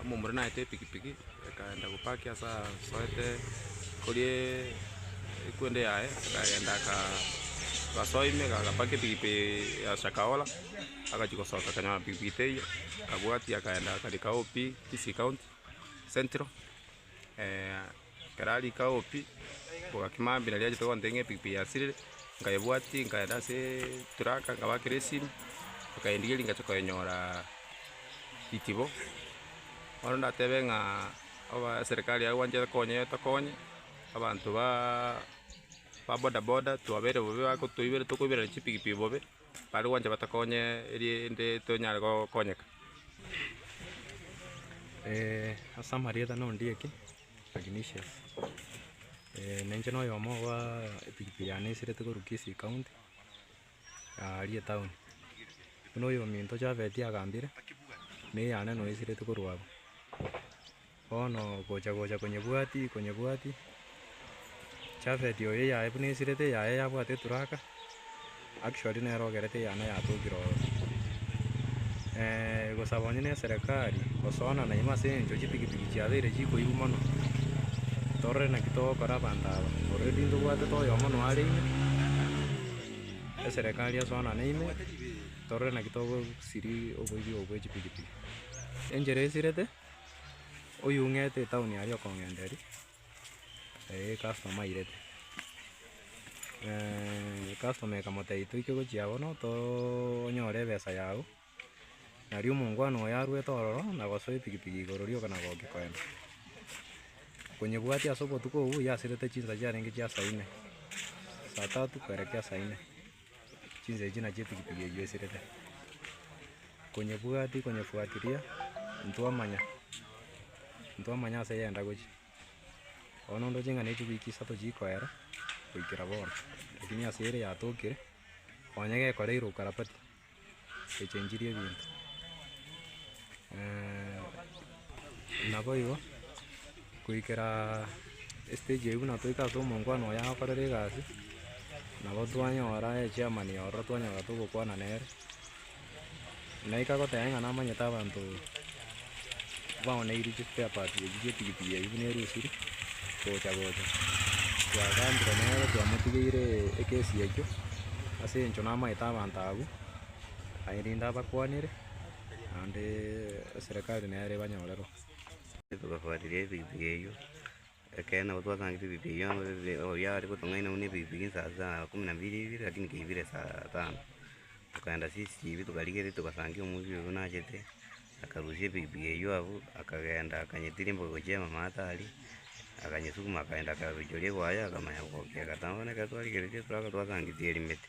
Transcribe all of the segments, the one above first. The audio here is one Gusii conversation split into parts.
omomura naete epikipiki akaenda gopaki ase asoete korie ekwende yaye, akagenda aka agasoa ime iga agapaki epikipiki ya shakahola, agachia gosoka akanyora pikipiki teiyo, akabwatia akaenda akarika obi tisi county central. Ekero arenge agwo pi, nkoboka kimambia pi, nari achete gontebia ng'a epikipiki yasirire, nkaebwatia nkaenda ase eturaka nkabakera esimi, bakayendigeria ngacha koyenyora itibo, bono ndatebe ng'a aba eserikari aye gwancha ekonye etokonye, abanto baaaa ba bodaboda twabeire bobe bago toiberete tokoiberana chipikipiki bobe. Bare gwancha batokonye erinde tonyare gokonyeka. Ase amarieta n'Ondieki Ignatius. Ninche noyomo oba epikipiki yane esiretwe korwa Kisii county aria etown. Buna oyominto Javeti agambire, neyane noesiretwe korwa abwo. Bono gocha-gocha konyebwati, konyebwati, Jafet oyo eyaye buna esirete, eyaye yabwate eturaka, actually nere ogerete eyane yatokire oro. gosaba onye na eserekari gosoana naimo ase eng'encho chipikipiki chiabeire chikoibu mono, torore naki togokora abanto aba, already ntobwatete oyomo noare ime, eserekari esoanane ime, torore naki togosiria oboibi obo bwe chipikipiki. Enchera esirete. oyou'ngete etown aria okong'enta eria, customer airete, customer ekamotebia toike gochia bono toonyore ebesa yago, nario omongwana oye arwete ororo na gosoa epikipiki igoro rioka na goki koenda. Konyebwatia ase obotuko obwo yasirete chinsa chiarenge chia saa ine, saa tatu koerekera saa ine. Chinsemo echi nachio epikipiki eywo eserete. Konyebwati konyefuatilia ntwamanya, ntwamanya ase yenda gochia. Bono ndoche ng'a ne chiwiki isato chiikoera goikera bono, lakini ase ere yatokire, onye gekore ere okarabati. gochenchirie ebinto naboigo goikera estage eyio buna toika ase omonkwano oye akorera egasi, nabo twanyora echairman ororo twanyora togokwana nere, naika goteba ng'a namanyete abanto. Baoneirie chisiper parts echio chi'epikipiki eyio buna erusiri gocha gocha. Twagambire nere twamotigeire ekesi eyio ase eng'encho namaete abanto abwo aye rende abakwanere naende eserekari nere ebanyorerwe. Togafuatiria epikipiki eyio. Ekeene, nabo twasangete ebibe erio, na ebibe oyio are gotong'aina buna ebibe bie insaa saa kumi na bibere ibere, lakini keibire saa tano. Tokaenda CCTV tokarigereria togasangia omoibiri oyio nachete, akarusia ebibe eyio abwo, akagenda akanyetiria embobe gochia mama atari, akanyesukuma akagenda akarochoria egwaye akamanya gokira. Anga bono ekero twarigeretie ebibe twasangeti erimete.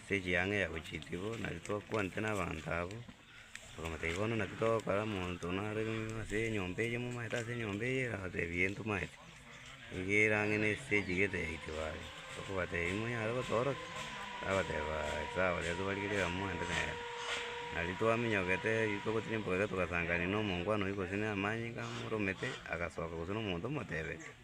Ase chianga ya gochiika igo, naki twakwanete nabaanto abwo, tokamotebia bono naki togokora, monto one are ase enyomba eye momaete ase enyomba eye, agatebia ee ntomaete, nigo erang'ina estage igete ya itibaga, tokobatebia monyare gotoorokia? Bagoteba aye sawa rirorio tobarigerie egamo mwende nere. Nari twaminyogete riria togotira embura iga togasanganire na omongwana oyio gose na amanyinga amo ore omete, agasoka gose na omonto omotebetie.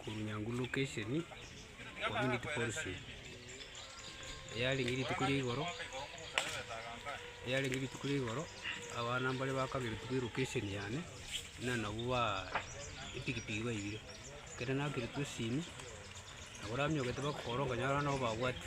korwa Nyanguru location, community forestry, eyarenge rituko ria igoro, eyarenge rituko ria igoro, abana mbare bakagera etuko elocation yane, buna nabwo baa epikipiki baibire, ekero nakerete esimi, nabo oranyogete bakogora okonyora nabo babwati.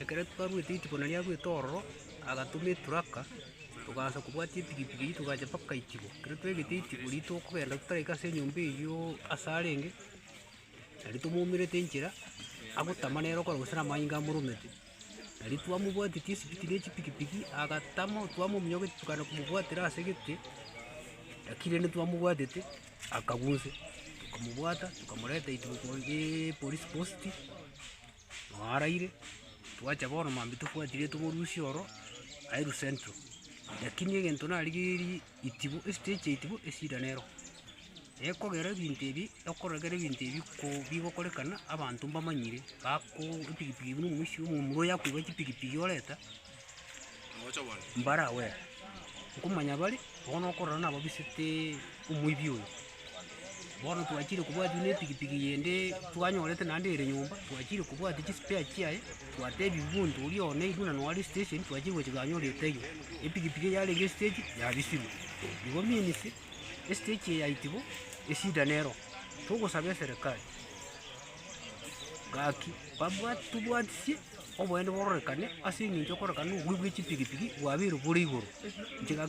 Ekero twarwete rituko nario arwete ororo, agatoma eturaka, togaancha kobwatia epikipiki eywo togacha mpaka itibo. Ekero twaigete itibo riria tokogenda totaraika ase enyomba eyiooo ase arenge, nario tomoumerete enchera, agotama nere okoro gose na amayengo amoromete. Nario twamobwatitie esibiti na echipikipiki, agatama, twamominyokia tokaenda komobwatera ase egete, lakini rende twamobwatete. Akagusia, tokamobwata, tokamoreta ituko ye police post, noo araire, twacha bono mambia tobwatirie tomorusia oro aye Ru Central. Lakini egento narigereiri itibu, estage ya itibu eshida nero, ekogera ebinto ebi, ekorogera ebinto ebi ko bigokorekana abanto mbamanyire, bako epikipiki buna omoibi, omomura oyo akoiba chipikipiki oreta. Mbare agwo ere, nkomanya bare, ogo nokorora nababisete omoibi oyo. Bono twachire kobwatia buna epikipiki yende twanyorete naende ere nyomba, twachire kobwatia chispare chiaye, twatebia omonto oria one airwe nonye are steshen, twachire gocha twanyora etaiyo, epikipiki eye yarenge estage yabisirwe. Igo means, estage eye yaiti bo, eshida nero, togosaba eserekari, gaki babwat tobwatisie. oboyende bororekane ase eng'encho okorekana obobe bwe chipigipigi bwabeirwe bore igoro. Nchega.